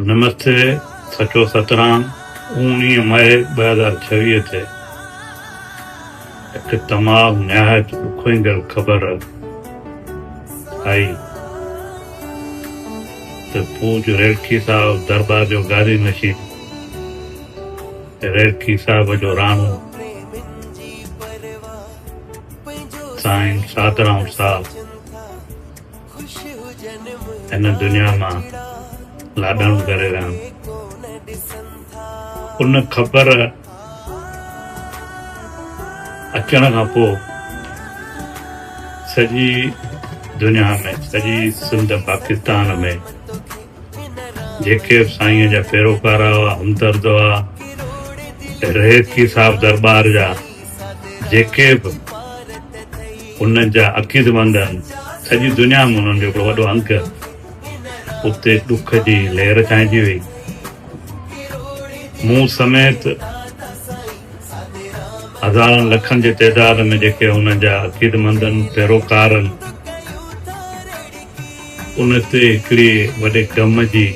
نمستي سچو سترام اوڻيهه مئي ٻه هزار ڇويهه تي هڪ تمام نهايت ڏکوئيندڙ خبر آئي ته پوڄ ريلڪي صاحب دربار جو گادي نشين ريلڪي صاحب جو راڻو سائين سادرام صاحب هن دنيا مان لاڏاڻو ڪري ويا آهن ان خبر اچڻ کان پوء سڄي دنيا ۾ سڄي سنڌ پاڪستان ۾ جيڪي به سائين جا پيروڪار هئا همدرد هئا رهيتڪي صاحب درٻار جا جيڪي به انهن جا عقيدمند آهن، سڄي دنيا ۾ انهن جو هڪڙو وڏو انگ هو. اتي ڏک جي لهر ڇانئجي ويئي. مون سميت هزارن لکن جي تعداد ۾ جيڪي انهن جا عقيدمندن، پيروڪارن، ان تي هڪڙي وڏي غم جي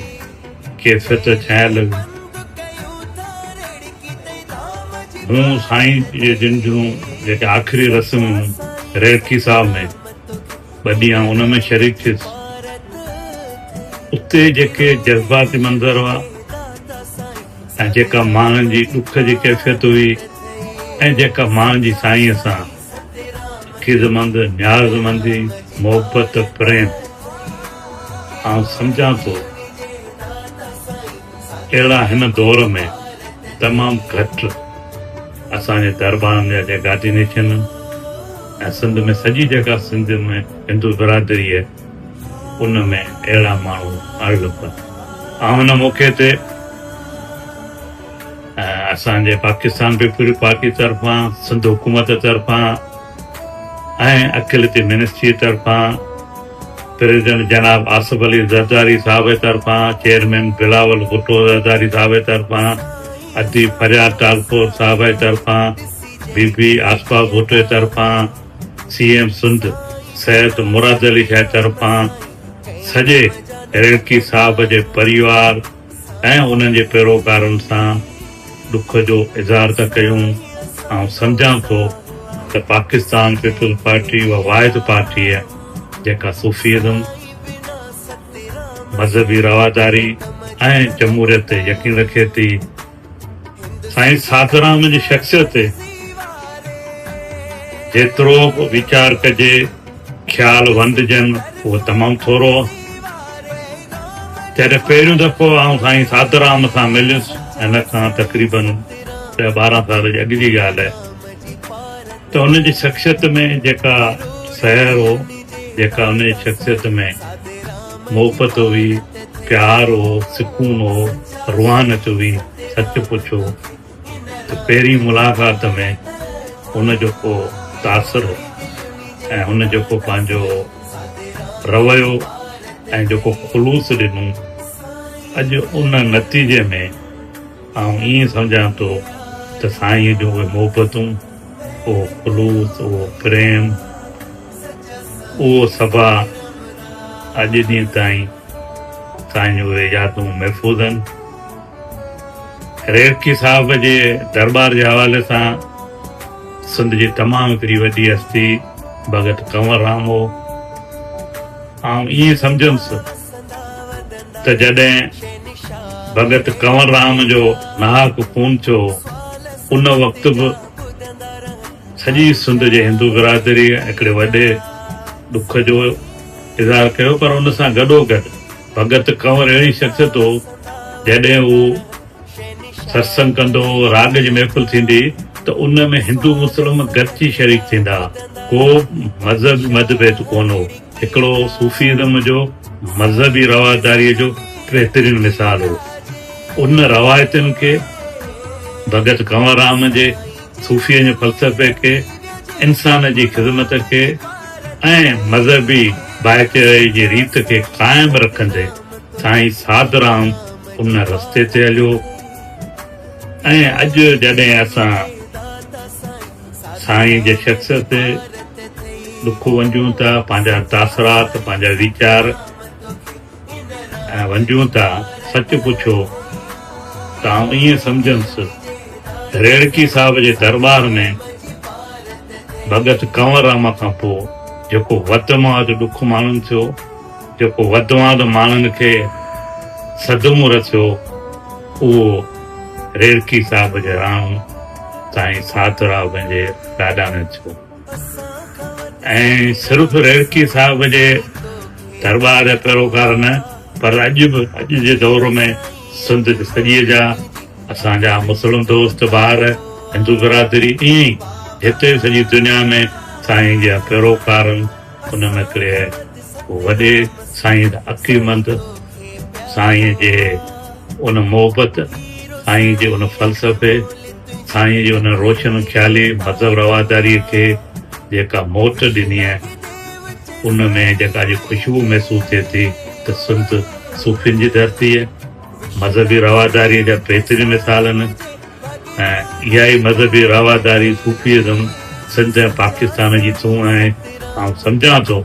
ڪيفيت ڇانئن لڳي. هون سائين جي جن جون جيڪي آخري رسمون ريڙڪي صاحب ۾ ٻه ڏينهن ان ۾ شريڪ ٿيس. اتي جيڪي جذباتي منظر هئا ۽ جيڪا ماڻهن جي ڏک جي ڪيفيت هئي ۽ جيڪا ماڻهن جي سائينء سان خيزمند، نيازمندي، محبت، پريم، آئون سمجهان ٿو اهڙا هن دور ۾ تمام گهٽ اسان جي دربارن جا جيڪا ڊينيشن آهن ۽ سنڌ ۾ سڄي جيڪا سنڌ ۾ هندو برادري آهي ان ۾ اهڙا ماڻهو اڻ لڀن. آئون هن موقعي تي. اسان جي پاڪستان پيپلز پارٽي طرفان، سنڌ حڪومت طرفان ۽ اقليتي منسٽري طرفان، پريزيڊنٽ جناب آصف علي زرداري صاحب طرفان، چيئرمين بلاول ڀٽو زرداري صاحب طرفان، اديب فرياد ٽالپور صاحب طرفان، بي بي آصفه ڀٽو طرفان، سي ايم سنڌ سيد مراد علي شاهه طرفان، سڄي ريڙڪي صاحب جي پريوار، ۽ انهن جي پيروڪارن سان ڏک جو اظهار ٿا ڪيون، آئون سمجهان ٿو ته پاڪستان پيپلز پارٽي اها واحد پارٽي آهي جيڪا صوفي ازم، مذهبي رواداري ۽ جمهوريت تي يقين رکي ٿي. سائين ساڌوراهم جي شخصيت تي جيترو به ويچار ڪجي، خيال ونڊجن، اهو تمام ٿورو هو. جڏهن پهريون دفعو آئون سائين ساڌوراهم سان مليس، هن کان تقريبن ڏهه ٻارهن سال جي اڳ جي ڳالهه آهي، ته هن جي شخصيت ۾ جيڪا سحر هو، جيڪا هن جي شخصيت ۾. محبت هئي، پيار هو، سڪون هو، روحانيت هئي، سچ پڇو ته پهرين ملاقات ۾ هن جيڪو تاثر ۽ هن جيڪو پنهنجو رويو ۽ جيڪو خلوص ڏنو اڄ ان نتيجي ۾ آئون ائين سمجهان ٿو ته سائينء جون اهي محبتون، اهو خلوص، اهو پريم. اهو صفا اڄ ڏينهن تائين سائين جون اهي يادون محفوظ آهن. ريرڪي صاحب جي درٻار جي حوالي سان سنڌ جي تمام هڪڙي وڏي هستي ڀڳت ڪنور رام هو. آئون ائين سمجهنس ته جڏهن ڀڳت ڪنور رام جو ناحق خون ٿيو هو ان وقت به سڄي سنڌ جي هندو برادري هڪڙي وڏي ڏک جو اظهار ڪيو پر ان سان گڏوگڏ ڀڳت ڪنور اهڙي شخصيت هو جڏهن هو ستسنگ ڪندو هو راڳ جي محفل ٿيندي ته ان ۾ هندو مسلم گڏجي شريڪ ٿيندا ڪو مذهبي متڀيد ڪونه هو هڪڙو صوفي ازم جو مذهبي رواداري جو بهترين مثال هو ان روايتن کي ڀڳت ڪنور رام جي صوفيء جي فلسفي کي، انسان جي خذمت کي ۽ مذهبي ڀائچاري جي ريت کي قائم رکندي سائين سادرام ان رستي تي هليو ۽ اڄ جڏهن اسان سائين جي شخصيت تي لکون وجهون ٿا، پنهنجا تاثرات، پنهنجا ويچار. ۽ ونجهون ٿا، سچ پڇو ته آئون ائين سمجهنس ته ريڙڪي صاحب جي درٻار ۾ ڀڳت ڪنور راما کان پوء جيڪو وڌ مان وڌ ڏک ماڻهن ٿيو، جيڪو وڌ مان وڌ ماڻهن کي صدمو رسيو، اهو ريڙڪي صاحب جي راڻو سائين ساڌو راء پنهنجي ڏاڏا ۾ ٿيو. ۽ صرف ريڙڪي صاحب جي درٻار جا پيروڪار نه پر اڄ به اڄ جي دور ۾ سنڌ جي سڄي جا اسان جا مسلم دوست ڀائر هندو برادري ائين ئي هتي سڄي دنيا ۾ سائين جا پيروڪارن ان ۾ هڪڙي وڏي سائين عقلمند سائين جي ان محبت، سائين جي ان فلسفي، سائين جي ان روشن خيالي مذهب رواداريء کي جيڪا موٽ ڏني آهي، ان ۾ جيڪا اڄ خوشبو محسوس ٿئي ٿي ته سنڌ صوفين جي ڌرتي آهي. مذهبي رواداريء جا بهترين مثال آهن ۽ اها ئي مذهبي رواداري، صوفيزم، سنڌ ۽ پاڪستان جي سونهن آهي. آئون سمجهان ٿو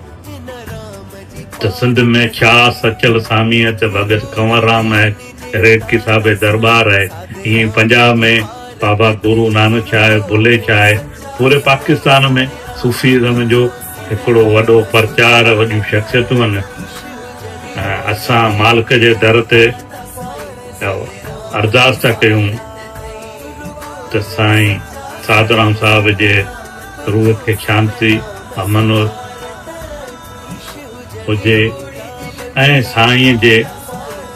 ته سنڌ ۾ ڇا سچل ساميء ته ڀڳت ڪنور رام آهي، ريڊڪي صاحب جي درٻار آهي، ائين ئي پنجاب ۾ بابا گورو نانڪ شاهه، بلهي شاهه آهي، پوري پاڪستان ۾ صوفيزم جو هڪڙو وڏو پرچار، وڏيون شخصيتون هن ۽ اسان مالڪ جي در تي اها ارداس ٿا ڪيون ته سائين سادرام صاحب جي روح کي شانتي، امن و هجي ۽ سائين جي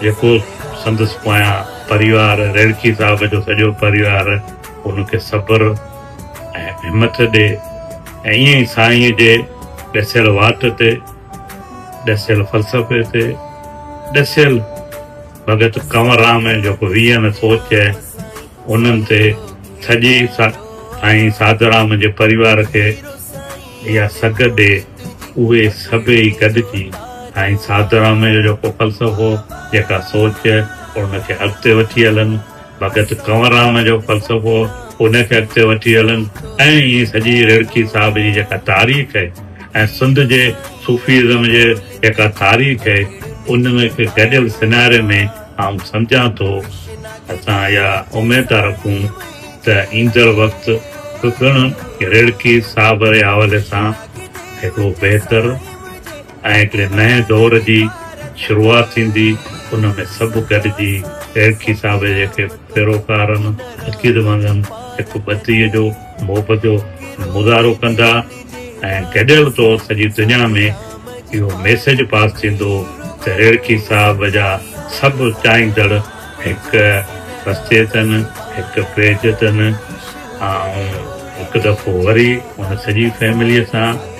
جيڪو سندس پويان پريوار ريڙڪي صاحب جو سڄو پريوار ان کي صبر ۽ همٿ ڏي. ۽ ائين ئي سائينء جي ڏسيل واٽ تي، ڏسيل فلسفي تي، ڏسيل ڀڳت ڪنور رام ۽ جيڪو ويهن سوچ انهن تي سڄي سائين ساڌورام جي پريوار کي اها سگهه ڏي، اهي سڀيئي گڏجي سائين ساڌورام جو جيڪو فلسفو، جيڪا سوچ ان کي اڳتي وٺي هلن. ڀڳت ڪنور رام جو فلسفو ان کي اڳتي وٺي هلن ۽ ائين سڄي رڙڪي صاحب جي جيڪا تاريخ آهي ۽ سنڌ جي صوفيزم جي جيڪا تاريخ آهي ان ۾ هڪ گڏيل سيناري ۾ آئون سمجهان ٿو. اسان اها اميد ٿا رکون ته ايندڙ وقت به پڻ رڙڪي صاحب ري حوالي سان هڪڙو بهتر. ۽ هڪڙي نئين دور جي شروعات ٿيندي، ان ۾ سڀ گڏجي پيرکي صاحب جي هڪ پيروڪارن، عقيدمندن هڪ ٻڌي جو، محبت جو مظاهرو ڪندا ۽ گڏيل طور سڄي دنيا ۾ اهو ميسيج پاس ٿيندو ته ريڙڪي صاحب جا سڀ چاهيندڙ هڪ رستي تن، هڪ پيج تن، آئون هڪ دفعو وري ان سڄي فيمليء سان.